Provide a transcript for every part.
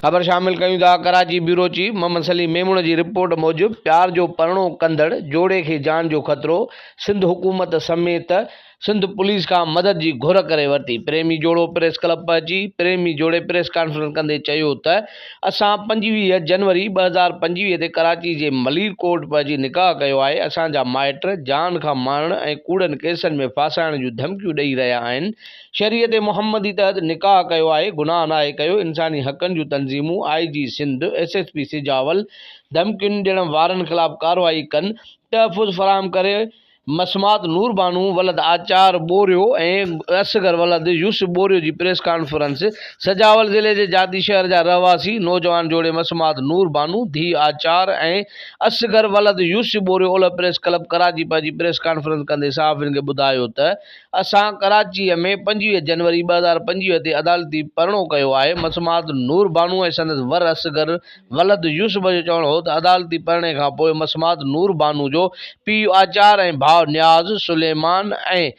خبر شامل ڪيون ٿا ڪراچي بيورو چيف محمد سليم ميمڻ جي رپورٽ موجب پيار جو پرڻو ڪندڙ جوڙي کي جان جو خطرو سنڌ حڪومت سميت سنڌ پوليس کان مدد جي گهر ڪري ورتي پريمي جوڙو پريس ڪلب پهچي پريمي جوڙي پريس ڪانفرنس ڪندي چيو ته اسان پنجويهه جنوري ٻه هزار پنجويهه تي ڪراچي جي ملير ڪورٽ پهچي نڪاح ڪيو آهي، اسان جا مائٽ جان کان مارڻ ۽ ڪوڙن ڪيسن ۾ ڦاسائڻ جون ڌمڪيون ڏئي رهيا آهن، شريعت محمدي تحت نڪاح ڪيو آهي، گناهه ناهي ڪيو، انساني حقن جون تنظيمون، I G Sindh, S S P Sujawal, ڌمڪين ڏيڻ وارن خلاف ڪارروائي ڪن، تحفظ فراهم ڪري، مسمات نور بانو ولد آچار ٻورهيو ۽ اصغر ولد يوسف ٻورهيو جي پريس ڪانفرنس، سجاول ضلعي جي جاتي شهر جا رهواسي نوجوان جوڙي مسمات نور بانو، ڌيء آچار، ۽ اصغر ولد يوسف ٻورهيو اولهه پريس ڪلب ڪراچي پنهنجي پريس ڪانفرنس ڪندي صحافين کي ٻڌايو ته اسان ڪراچي ۾ پنجويهه جنوري ٻه هزار پنجويهه تي عدالتي پرڻو ڪيو آهي مسمات نور بانو ۽ سندس ور اصغر ولد يوسف جو چوڻ هو ته عدالتي پرڻي کان پوء مسمات نور بانو جو پيء آچار ۽ ڀاء نياز، سليمان ۽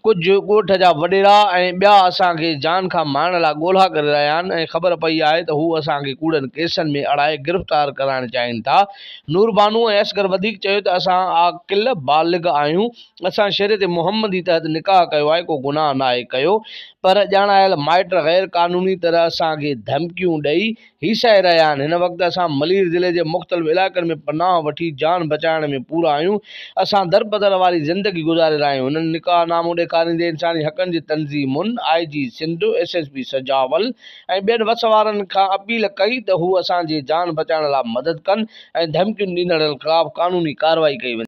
ڪجهه ڳوٺ جا وڏيرا ۽ ٻيا اسان کي جان کان مارڻ لاء ڳولا ڪري رهيا آهن ۽ خبر پئي آهي ته هو اسان کي ڪوڙن ڪيسن ۾ اڙائي گرفتار ڪرائڻ چاهين ٿا. نور بانو ۽ اصغر وڌيڪ چيو ته اسان عاقل بالغ آهيون، اسان شريعت محمدي تحت نڪاح ڪيو آهي، ڪو گناهه ناهي ڪيو پر ڄاڻايل مائٽ غير قانوني طرح اسان کي ڌمڪيون ڏئي هي سهي رهيا آهن، هن وقت اسان ملير ضلعي جي مختلف علائقن ۾ پناهه وٺي جان بچائڻ ۾ پورا آهيون، اسان دربدر واري زندگي گذاري رهيا آهيون، هنن نڪاح نامو ڏيکاريندي انساني حقن جي تنظيمن، I G Sindh, S S P Sujawal ۽ ٻين وس وارن کان اپيل ڪئي ته هو اسان جي جان بچائڻ لاء مدد ڪن ۽ ڌمڪين ڏيندڙن خلاف قانوني ڪارروائي ڪئي وڃي.